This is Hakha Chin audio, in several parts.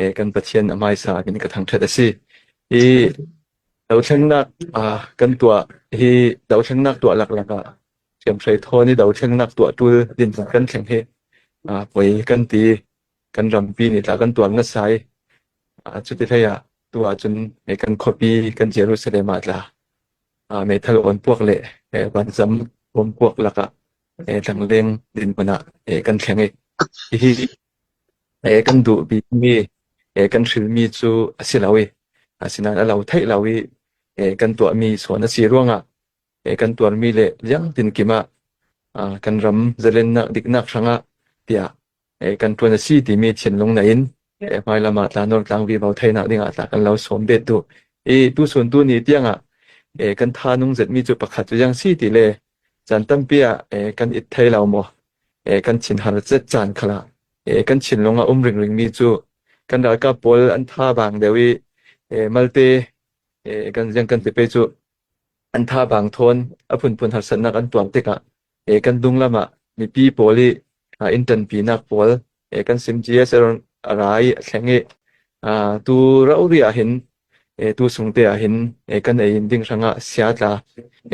E, kan Pathian a hmaisa in ka thangṭhat a si. Hi dothlennak ah kan tuah hi dothlennak tuah laklak ah hriamhrei thawn i dothlennak tuah ṭul din kan thleng hi a poi kan ti. Kan rampi nih tla kan tuar ngasai. A cuti hlei ah tu ahcun e, kan khuapi kan Jerusalem ah tla a meithal on puak le e, vanzam om puak lakah e, tlangleng din hmanah e, kan thleng i hihi E kan duh bikmi, e kan hrilmi cu a si lo i, asinain a lo theih lo i, e kan tuahmi suan a si ruangah, e kan tuarmi le liangtin kim ah ah kan ram zalennak diknak hrangah tiah e kan ṭuan a si timi thinlung nain e hmailam ah tlanor tlangvi vo theinak dingah tla kan lo sawm bet duh. I tusun tuni tiangah e kan tha nung zetmi cu pakhat cu yang si ti le Caan tampi ah eh, kan it thai lo maw? Eh, kan chin har zet caan khala. Eh, kan chinlung a um ring ring mi cu kan ralkap pawl an tha bang deu i eh, malte eh, kan jang kan te pe cu an tha bang thon a phun phun har sannak an tuam tikah eh, kan dung lama mipi pawl i uh, intan pi nak pawl Eh, kan sim ci a ser a ra i a thleng i ah, tu rauri ah hin eh, tu sungte ah hin eh, kan ei in ding hrang ah sia tla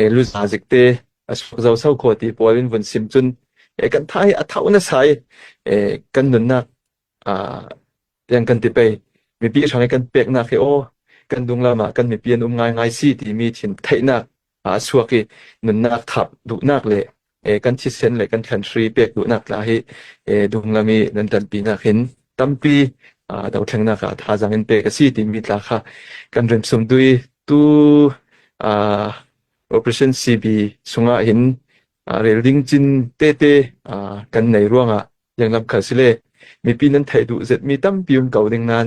eh, lu za zik te a suk zo sau kho ti pual in vun sim cun eh, kan thai a thau na sai eh, kan nunnak ah, tiang kan ti pei mipi hrang i kan pek nak hi o kan dunglam ah kan mipi an um ngai ngai si ti mi thin theihnak aa chuak i nunnak thap duhnak le eh, kan thisen le kan country pek duhnak tla hi eh, dunglam i nan tanpi nak hin tampi ah dothlennak ah thazang in pek a si timi tla kha kan remsum dui tu ah, operation CB sungah hin ah, rel ding cin te te ah, kan nei ruangah yang lam khal sile mipi nan thei duh zet mi tampi um ko ding nan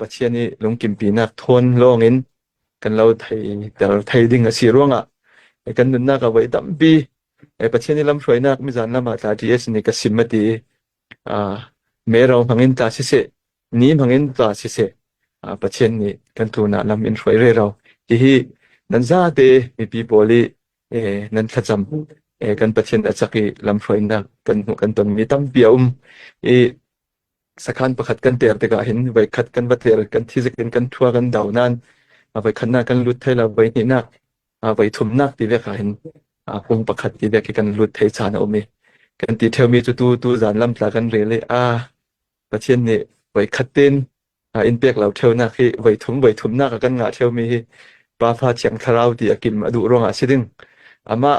Pathian i lungkimpinak thawn lawngin kan lo theiter thei ding a si ruangah kan nunnak a voi tampi Pathian i lamhruainak mizan lam ah tla ṭi a sini ka sim a ti i meiro hmangin tla siseh, ni hmangin tla siseh, Pathian nih kan thunak lam in hruai rero. Hihi nan zate mipi pawl i nan thlacam kan Pathian a cak i lamhruainak kan hmuh kan tonmi tampi a um. I sakhan pakhat kan ter tikah hin voikhat kan va ter kan thizik in kan thua kan dau nain a voikhatnak kan lut thai la voi hnihnak a voi thumnak ti vek ha hin a kum pakhat ti vek hi kan lut thai chan a um i kan ti theumi cu tu tu zan lam tla kan rel i a pathian nih voikhat ten a in pek lo theunak hi voi thum voi thumnak a kan ngah theumi hi pafa thiang thlarau ti a kim a duh ruangah si ding amah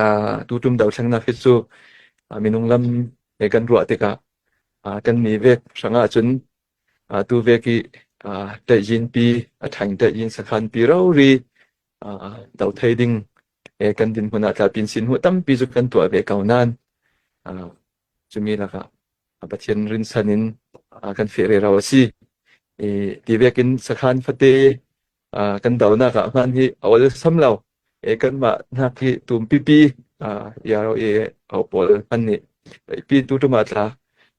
Ah, tutum dothlennak hi cu ah, minung lam he kan ruah tikah ah, kan mi vek hrang ahcun ah, tu vek i ah, tlaihjin pi a thang tlaihjin sakhan pi rori ah, do thei ding he kan dinhmun ah tlapin sin hu tampi cu kan tuah ve ko nan ah, cumi lakah ah, Pathian rinsan in ah, kan fehre ro a si i ti vekin sakhan fate Ah, kan donak ah hman hi a ol sam lo e kanmah nak hi tum pipi ah iaro e au pawl han ni pi tu tuma tla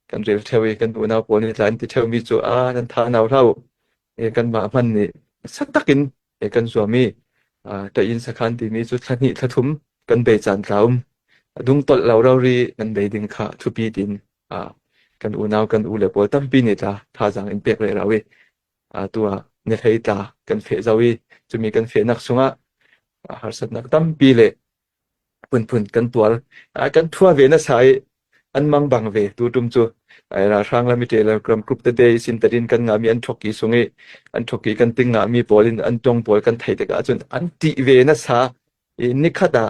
kan rel theo i kan unau pawl ni tlan ti theo mi chu a nan tha nau lau e kanmah hman ni sak takin e kan zuami ah ta in sakhan ti mi chu thla hni thla thum kan bei chan tlaum adung tol lo ro ri nan bei ding kha thupi tin ah kan unau kan u le pawl tampi ni tla tha jang in pek le rawi Atu ah na hlei tla kan feh zau i cumi kan fehnak chungah harsatnak tampi le phunphun kan tuar. A kan thua ve na sa i an mang bang ve tu tum cu ai ralhrang la mi teler ram group te de sin tarin kan nga mi an thokki sung i an thokki kan ting nga mi pawl in an tong pawl kan thei tik ahcun an ti ve na sa i nikhat ah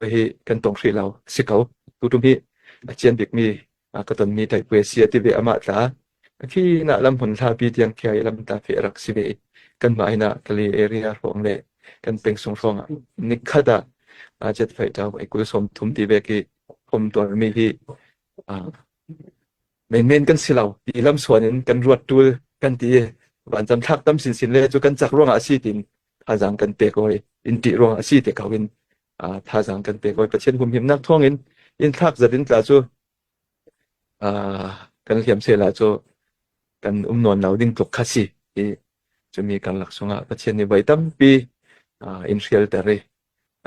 Ka hi kan tong hri lo si ko. Tutum hi a cian bikmi a ka tonmi taipuai si a ti ve amah tla. Ka khi na lam hun hlapi tiang thia i lam ta fe rak si ve. Kan mah ina ka le area hrawng le kan peng sung hrawng ah nikhata a jet fai taw ai kul som thum ti ve ki phom tuar mi hi menmen kan si lo ti lamsuan in kan ruat tul kan ti vanzam thlak tam sin sin le cu kan chak ruang ah si tin thazang kan pek oi in ti ruang a si te ko in thazang kan pek oi pathian hum him nak thong in in thlak zatin tla cu kan liam se la cu kan um non lo ding tluk kha si i chumi kan lak sunga pathian ni bai tampi in hrial tare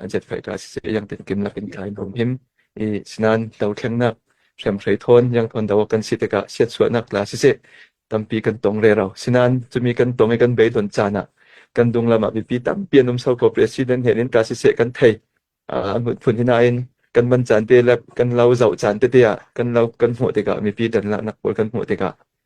an chetfaitu asisih yang tinkim lakin ka in um him i sinan dothlennak hriamhrei thawn yang thawn do kan si tikah siatsuahnak la sisih tampi kan tong re ro sinan cumi kan tong i kan bei don caan ah kan dunglam ah bipi tampi an um so ko president he in ka sisih kan thei uh, ngut phun hina in kan man caan te le kan lau zau caan te tia kan lau kan hmuh tikah mipi dan la nak pol kan hmuh tikah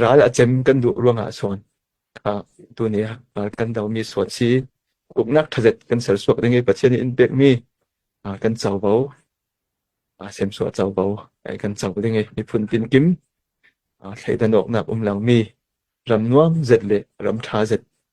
Ral a cem kan duh ruang ah sawn ah tuni ah ah kan domi sual si uknak ṭhaset kan sersuak ding i Pathian nih in pekmi ah kan covo ah semsuah covo ai kan co ding i miphun tinkim ah thleidan awknak um lomi ram nuam zet le ram ṭha zet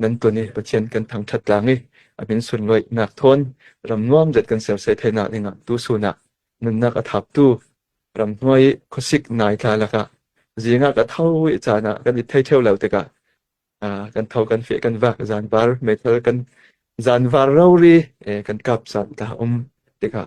nan tuan i Pathian kan thangṭhat tlang i a min sunlawinak thawn ram nuam zet kan ser sei theinak dingah tu sunak nunnak a thaptu ram hnuai i khuasik nai tla lakah zingah ka tho i caan ah kan i thei theo lo tikah ah, kan tho kan fe kan vak zan var meithal kan zan var rori eh, kan kap san ta um tikah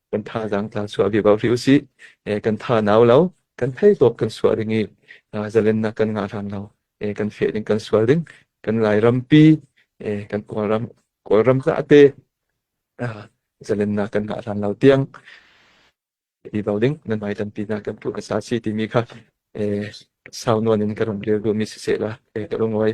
kan thazaang tla suah ve bau hri usih. Eh, kan tha nau lo, kan thei top kan suah ring i, ah, zalennak kan ngah hlan lo. Eh, kan fe ding kan sual ding, kan lai rampi, eh, kan kawlram, kawlram ta ate, ah, zalennak kan ngah hlan lo tiang, i bau ding, nan mai tan pi na kan pu asa si ti mi kha, eh, sau nuan in ka rum leu du mi si se la, eh, ka rungwai.